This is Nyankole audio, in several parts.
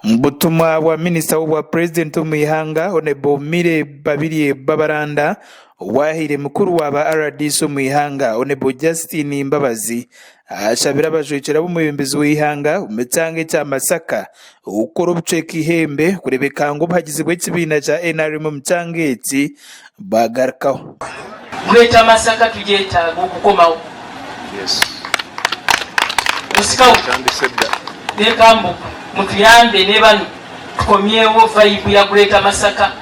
Omu butumwa bwa minisita w'obwa purezidenti omu ihanga Hon Mire Babirye Babaranda, owaahaire mukuru wa ba rdc omu ihanga Hon Justine Mbabazi ashabire abajwekyera b'omwebembezi w'eihanga omu kyanga ekya Masaka okukora obucweka eihembe kureebeka ngu obuhagizi bw'ekibiina kya nrm omu kyanga eki bwagarukaho. Greater Masaka tugyetaaga okukomawo. Busikauru reka mbu mutuyambe ne banu tukomyewo vibe ya Greater Masaka.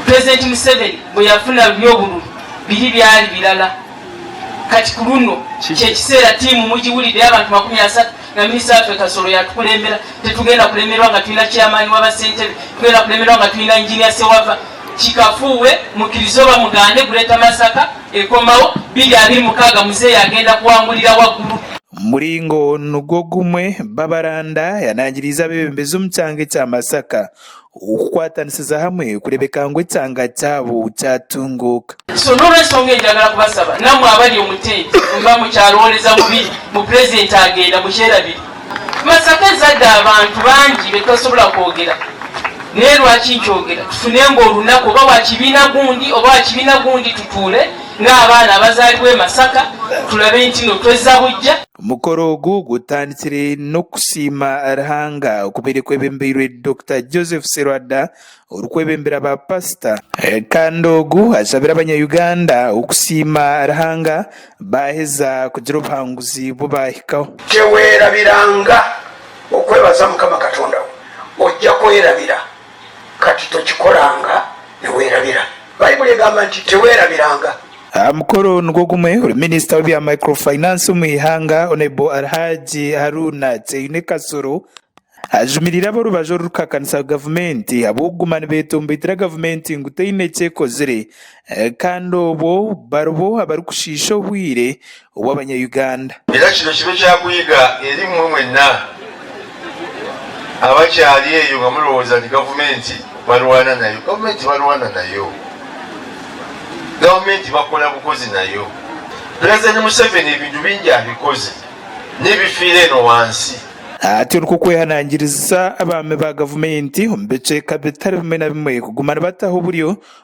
President Museveni bwe yafuna ruri obururu biri byari birala kati kuruno kyekiseera tiimu mugiwulidde y'abantu makumi asatu Nyamiiswa yatwe Kasoro yatukurembera. Titugenda kuremerwa nga twine a Chairman waba Sentebe. Tugenda kuremerwa nga twine a Engineer Ssewava. Kikafuuwe, mukirize oba mugaane, Greater Masaka ekomawo. Biri abiri mukaaga Muzeeyi agenda kuwangulira waggulu. Muringo nugwo gumwe, Babaranda yanangiriize abebembezi omu kyanga ekya Masaka Okukwatanisiza hamwe kureebeka ngu ekyanga kyabo kyatunguuka. Shonda olw'enshonga egyo njagala kubasaba namwe abari omu tenti mba mukyarooreza ngu bi ngu Purezidenti agenda mukyera biri Masaka ezadde abantu bangi betutasobora kwogera naye rwaki nkyogera tufunenga orunaku oba wa kibiina gundi oba wa kibiina gundi tutuule nga abaana abazalibwe Masaka turabe nti no tweza bugya Omukoro ogu gutandikire n'okusiima Ruhanga okubaire kwebembeirwe Dokita Joseph Serwada orikwebembera ba Pasita, kandi ogu ashabire abanya Uganda okusiima Ruhanga baaheza kugira obuhanguzi bu baahikaho. Tewerabiranga okwebaza Mukama Katonda wo, oija kwerabira. Kati tokikoranga, niwerabira. Baibuli egamba nti, Tewerabiranga. Aha mukoro nigwo gumwe, ori Minisita w'ebya Microfinance omu ihanga, Honourable Alhaji Haruna Kyaine Kasolo, ajumirire ab'orubaju orurukuhakanisa Gavumenti ahabw'okuguma nibeetombeitira Gavumenti ngu teine eki ekozire Kandi obwo baribo abarikushiisha obwire obw'abanya Uganda. Era kino kibe kyakuyiga eri mmwe mwenna abakyari eyo nga murowooza nti gavumenti barwana nayo, gavumenti tibarwana nayo, gavumenti bakora bukozi nayo, pulezidenti Museveni ebintu bingi abikoze nibifiira eno wansi. Ati onikwo kwehanangiriza abaami ba gavumenti omu bicweeka bitari bimwe na bimwe kuguma nibataho oburyo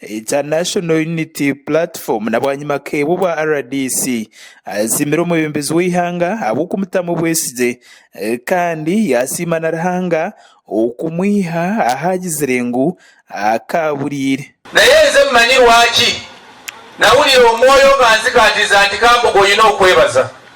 International Unity Platform na bwanyima keebwe obwa rdc asiimire omwebembezi w'eihanga ahabw'okumutamu obwesigye kandi yaasiima na Ruhanga okumwiha ahaagizire ngu akaaburiire. Naye nze mmanyi lwaki nawulira omwoyo nga nzikatiza nti kambuga oyine okwebaza.